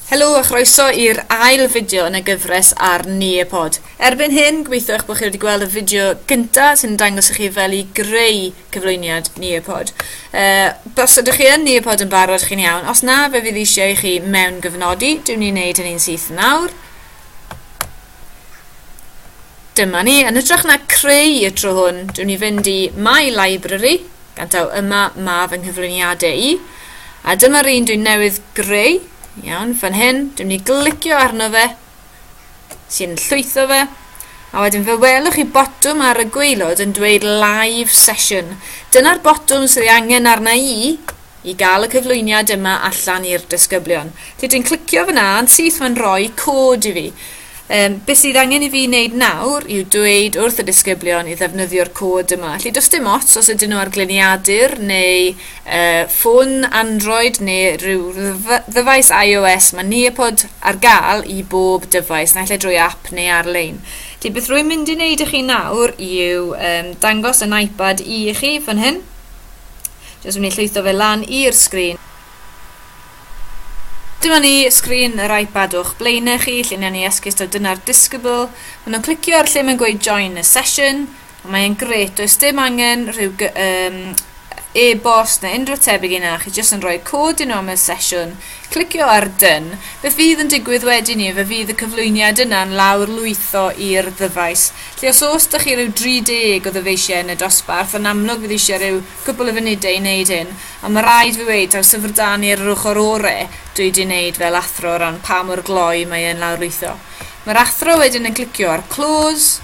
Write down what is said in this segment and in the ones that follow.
Helo a chroeso i'r ail fideo yn y gyfres ar Nearpod. Erbyn hyn, gobeithio eich bod chi wedi gweld y fideo gynta sy'n dangos i chi fel i greu cyflwyniad Nearpod. Uh, os ydych chi yn Nearpod yn barod, chi'n iawn. Os na, fe fydd eisiau i chi mewn gyfnodi. Dwi'n ni'n neud hynny'n syth nawr. Dyma ni, yn hytrach na creu y tro hwn, dwi'n ni fynd i My Library, gan taw yma mae fy nghyflwyniadau i, a dyma'r un dwi'n newydd greu, iawn, fan hyn, dwi'n ni glicio arno fe, sy'n llwytho fe, a wedyn fe welwch chi botwm ar y gweilod yn dweud live session. Dyna'r botwm sydd ei angen arna i I gael y cyflwyniad yma allan i'r disgyblion. Felly dwi'n clicio fyna yn syth mae'n rhoi cod i fi. Um, beth sydd angen i fi wneud nawr yw dweud wrth y disgyblion i ddefnyddio'r cod yma. Felly does dim ots os ydyn nhw ar gliniadur neu uh, ffôn Android neu rhyw ddyfais iOS, mae Neopod ar gael i bob dyfais, naill ai drwy app neu ar-lein. Felly beth rwy'n mynd i wneud i chi nawr yw um, dangos yn iPad i chi fan hyn. Jyst mynd i llwytho fe lan i'r sgrin. Dyma ni, sgrin yr iPad o'ch blaenau chi, lle ni'n ni esgus taw dyna'r disgybl. Maen nhw'n clicio ar lle mae'n gweud join a session, a mae'n gret, does dim angen rhyw um, e-bost neu unrhyw tebyg i na, chi jyst yn rhoi cod i nhw am y sesiwn, Clicio ar Done. Beth fydd yn digwydd wedyn ni, fe fydd y cyflwyniad yna'n lawrlwytho i'r ddyfais, lle os oes 'da chi ryw 30 o ddyfeisiau yn y dosbarth, yn amlwg fydd eisiau rhyw gwpl o funudau i wneud hyn, ond mae rhaid fi weud, taw Llyfr Da ni ar yr ochr ore dwi 'di wneud fel athro o ran pa mor gloi mae e'n lawrlwytho. Mae'r athro wedyn yn clicio ar Close,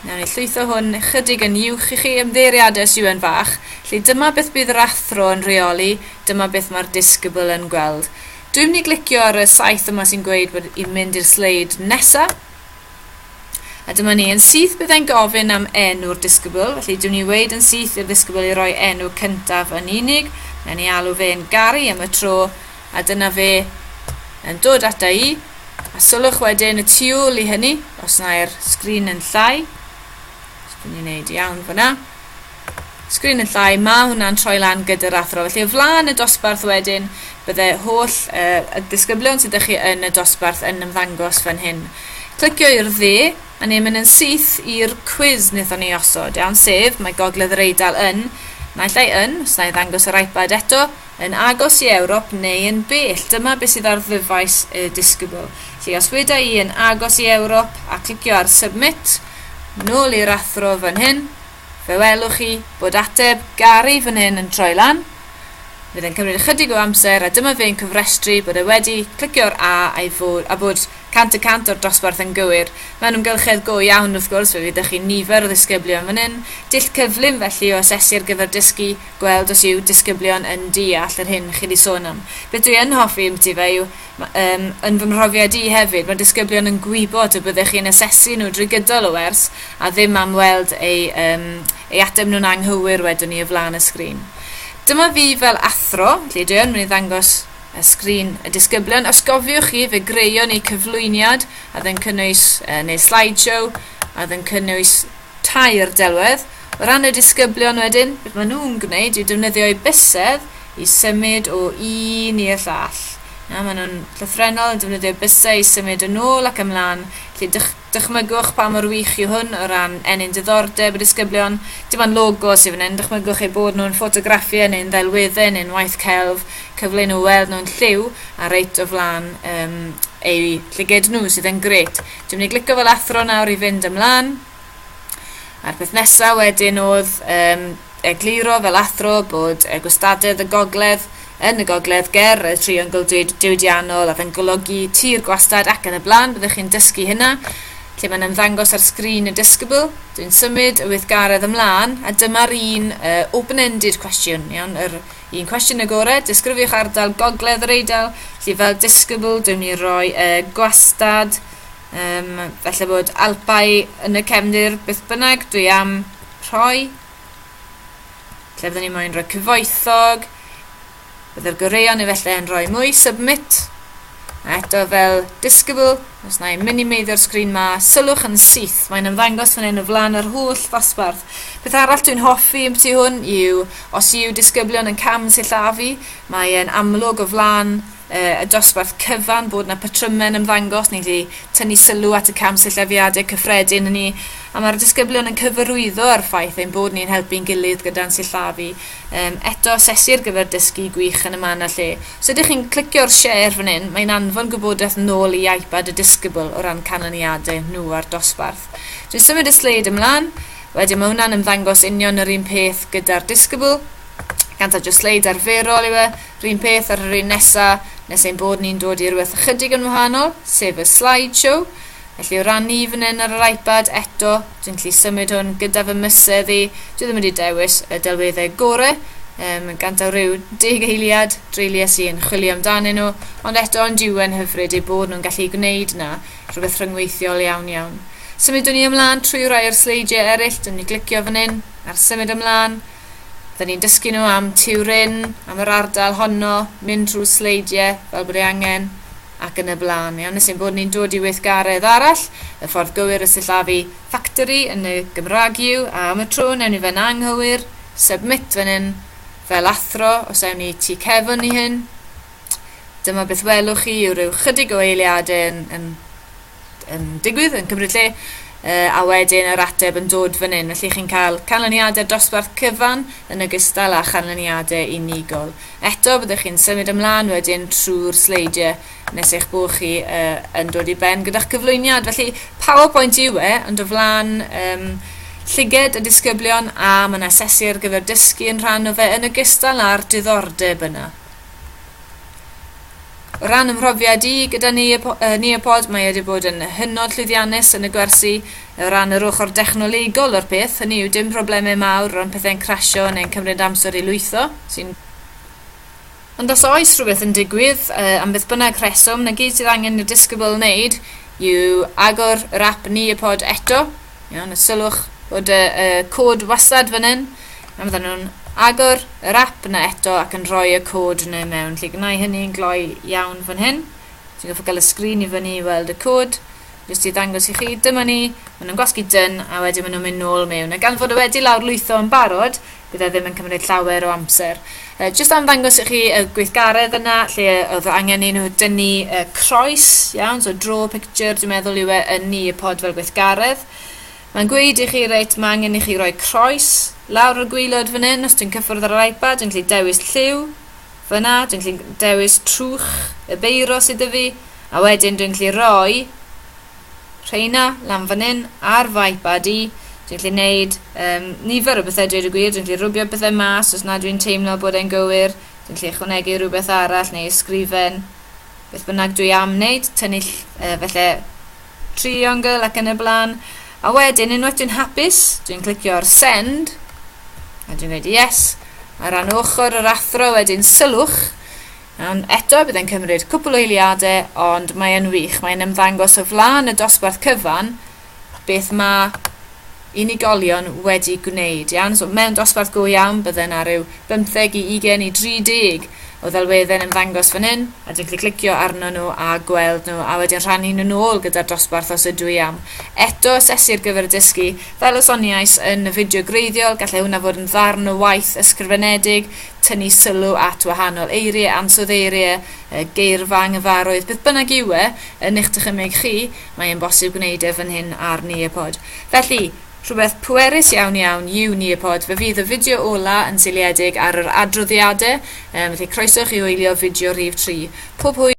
Nawn ni llwytho hwn ychydig yn uwch i chi ymddeiriad SUN fach, lle dyma beth bydd yr athro yn rheoli, dyma beth mae'r disgybl yn gweld. Dwi'n mynd i glicio ar y saeth yma sy'n gweud bod i'n mynd i'r sleid nesa. A dyma ni, yn syth byddai'n gofyn am enw'r disgybl, felly dwi'n ni weid yn syth i'r ddisgybl i roi enw cyntaf yn unig, na ni alw fe'n Gary am y tro, A dyna fe yn dod ata i, a sylwch wedyn y tu ôl i hynny, os na'r sgrin yn llai, os dwi'n ei wneud iawn fyna, sgrin yn llai, mae hwnna'n troi lan gyda'r athro. Felly o flaen y dosbarth wedyn, bydde holl uh, y disgyblion sydd ydych chi yn y dosbarth yn ymddangos fan hyn. Clicio i'r dde, a ni'n mynd yn syth i'r cwiz wnaethon ni osod, iawn, sef, mae Gogledd yr Eidal yn, naill ai yn, os na i ddangos yr iPad eto, Yn agos i Ewrop neu yn bell, dyma beth sydd ar ddyfais y disgybl. Felly os weda i yn agos i Ewrop a clicio ar Submit, nôl i'r athro fan hyn, fe welwch chi bod ateb Gary fan hyn yn troi lan. Fydd yn cymryd ychydig o amser a dyma fe'n cofrestru bod e wedi clicio'r A a'i fod, a bod 100 y 100 o'r dosbarth yn gywir. Mae'n ymgylchedd go iawn wrth gwrs, fe fydd 'da chi nifer o ddisgyblion fan hyn, dull cyflym felly o asesu ar gyfer dysgu, gweld os yw disgyblion yn deall yr hyn chi 'di sôn am. Beth dwi yn hoffi ymbyti fe yw, yym, yn fy mhrofiad i hefyd, mae disgyblion yn gwybod y byddech chi'n asesu nhw drwy gydol y wers a ddim am weld eu, yym, eu ateb nhw'n anghywir wedwn i o flaen y sgrin. Dyma fi fel athro, felly dwi yn mynd i ddangos y sgrin y disgyblion. Os gofiwch chi, fe greon ni cyflwyniad a oedd yn cynnwys, uh, neu slideshow, a oedd yn cynnwys tair delwedd, O ran y disgyblion wedyn, beth maen nhw'n gwneud yw defnyddio eu bysedd i symud o un i'r llall. Na, maen nhw'n llythrenol yn defnyddio bysau i symud yn ôl ac ymlaen, felly dych, dychmygwch pa mor wych yw hwn o ran ennyn diddordeb y disgyblion. Dim ond logo sydd fan hyn, dychmygwch eu bod nhw'n ffotograffiau neu'n ddelweddau neu'n waith celf, cyfle i nhw weld nhw'n lliw a reit o flaen um, eu llyged nhw sydd yn gret. Dwi'n mynd i glicio fel athro nawr i fynd ymlaen. A'r peth nesaf wedyn oedd um, egluro fel athro bod y gwastadedd y gogledd yn y gogledd ger y triongl diwydiannol a fe'n golygu tir gwastad ac yn y blaen, byddwch chi'n dysgu hynna lle mae'n ymddangos ar sgrin y disgybl. Dwi'n symud y weithgaredd ymlaen, a dyma'r un uh, open-ended cwestiwn, iawn, yr un cwestiwn y gore, disgrifiwch ardal gogledd yr eidl, lle fel disgybl dwi'n mynd i roi uh, gwastad Um, felly bod alpau yn y cefndir beth bynnag, dwi am rhoi. Lle byddwn ni moyn rhoi cyfoethog. Byddai'r goreion efallai yn rhoi mwy submit. A eto fel disgybl, os na i minimeiddio'r sgrin ma, sylwch yn syth, mae'n ymddangos fan hyn o flaen yr holl ddosbarth. Beth arall dwi'n hoffi yn bti hwn yw, os yw disgyblion yn cam sillafu, mae'n amlwg o flaen y dosbarth cyfan bod 'na patrymau yn ymddangos, ni 'di tynnu sylw at y cam sillafiadau cyffredin yn ni, a mae'r disgyblion yn cyfarwyddo â'r ffaith ein bod ni'n helpu'n gilydd gyda'n sillafu. Um, eto, sesi ar gyfer dysgu gwych yn y man a lle. Os ydych chi'n clicio'r share fan hyn, mae'n anfon gwybodaeth nôl i iPad y disgybl o ran canlyniadau nhw a'r dosbarth. Dwi'n symud y sleid ymlaen, wedyn mae hwnna'n ymddangos union yr un peth gyda'r disgybl, ganthaw jyst sleid arferol yw e, R'un peth ar yr un nesa, nes ein bod ni'n dod i rywbeth ychydig yn wahanol, sef y slide show. Felly o ran ni fan hyn ar yr iPad, eto, dwi'n gallu symud hwn gyda fy mysedd i, dwi ddim wedi dewis y delweddau gore, um, yn gant o ryw deg eiliad dreulies i yn chwilio amdanyn nhw, ond eto ond yw e'n hyfryd eu bod nhw'n gallu gwneud na, rhywbeth rhyngweithiol iawn iawn. Symudwn ni ymlaen trwy rai o'r sleidiau eraill, dwi'n mynd i glicio fan hyn, ar symud ymlaen, Dyn ni'n dysgu nhw am Turin, am yr ardal honno, mynd trwy sleidiau fel bod ei angen, ac yn y blaen. Iawn, nes ein bod ni'n dod i weithgaredd arall, y ffordd gywir y sillafu factory yn y Gymraeg yw, a am y tro newn ni fe'n anghywir, submit fan hyn, fel athro, os ewn ni tu cefn i hyn, dyma beth welwch chi yw rhyw chydig o eiliadau yn, yn yn digwydd, yn cymryd lle, uh, a wedyn yr ateb yn dod fan hyn. Felly chi'n cael canlyniadau dosbarth cyfan yn ogystal â chanlyniadau unigol. Eto, byddwch chi'n symud ymlaen wedyn trwy'r sleidiau nes eich bod chi uh, yn dod i ben gyda'ch cyflwyniad. Felly, PowerPoint yw e, ond o flaen um, llyged y disgyblion a mae'n asesu ar gyfer dysgu yn rhan o fe yn ogystal â'r diddordeb yna. O ran fy mhrofiad i gyda Nearpod, mae e wedi bod yn hynod llwyddiannus yn y gwersi o ran yr ochr dechnolegol o'r peth, hynny yw dim problemau mawr o ran pethau'n crasio neu'n cymryd amser i lwytho, sy'n. Ond os oes rhywbeth yn digwydd, am beth bynnag rheswm, 'na gyd sydd angen i'r disgybl wneud yw agor yr ap Nearpod eto, Iawn, a sylwch bod y, y cod wasad fan hyn, a fydden nhw'n agor yr app yna eto ac yn rhoi y cod yna mewn. Lle gwnau hynny yn gloi iawn fan hyn. Ti'n goffa gael y sgrin i fyny i weld y cod. Jyst i ddangos i chi, dyma ni, maen nhw'n gwasgu dyn a wedyn maen nhw'n mynd nôl mewn. A gan fod o wedi lawr lwytho yn barod, Bydd e ddim yn cymryd llawer o amser. Yy jyst am ddangos i chi y gweithgaredd yna lle yy o'dd angen i nhw dynnu y croes, iawn, so draw picture dwi'n meddwl yw e yn ni y pod fel gweithgaredd. Mae'n gweud i chi reit mae angen i chi roi croes lawr y gwylod fan hyn os dwi'n cyffwrdd ar yr iPad dwi'n gallu dewis lliw fyna dwi'n gallu dewis trwch y beiro sydd 'da fi a wedyn dwi'n gallu roi Rheina, lan fan hyn, ar fy iPad i, dwi'n gallu neud um, nifer o bethau dweud y gwir, dwi'n gallu rwbio bethau mas os na dwi'n teimlo bod e'n gywir, dwi'n gallu ychwanegu rhywbeth arall neu ysgrifen, beth bynnag dwi am wneud, tynnu uh, felly triongl ac yn y blaen. A wedyn, unwaith dwi'n hapus, dwi'n clicio ar send, a dwi'n gweud yes, a ran ochr yr athro wedyn sylwch, Ond eto, bydd e'n cymryd cwpl o eiliadau, ond mae e'n wych, mae'n ymddangos o flaen y dosbarth cyfan beth mae unigolion wedi gwneud, iawn? So mewn dosbarth go iawn, bydden ar ryw 15 i 20 i 30 o ddelweddau'n ymddangos fan hyn, a dwi'n gallu clicio arno nhw a gweld nhw, a wedyn rhannu nhw nôl gyda'r dosbarth os ydw i am. Eto, asesu ar gyfer y dysgu. Fel y soniais yn y fideo greiddiol, gallai hwnna fod yn ddarn o waith ysgrifenedig, tynnu sylw at wahanol eiriau, ansoddeiriau, yy, geirfa anghyfarwydd, beth bynnag yw e, yn eich dychymyg chi, mae e'n bosib gwneud e fan hyn ar Nearpod. Felly, rhywbeth pwerus iawn iawn yw Nearpod, fe fydd y fideo ola yn seiliedig ar yr adroddiadau, um, felly croeso chi wylio fideo rhif 3. Pob hwyl!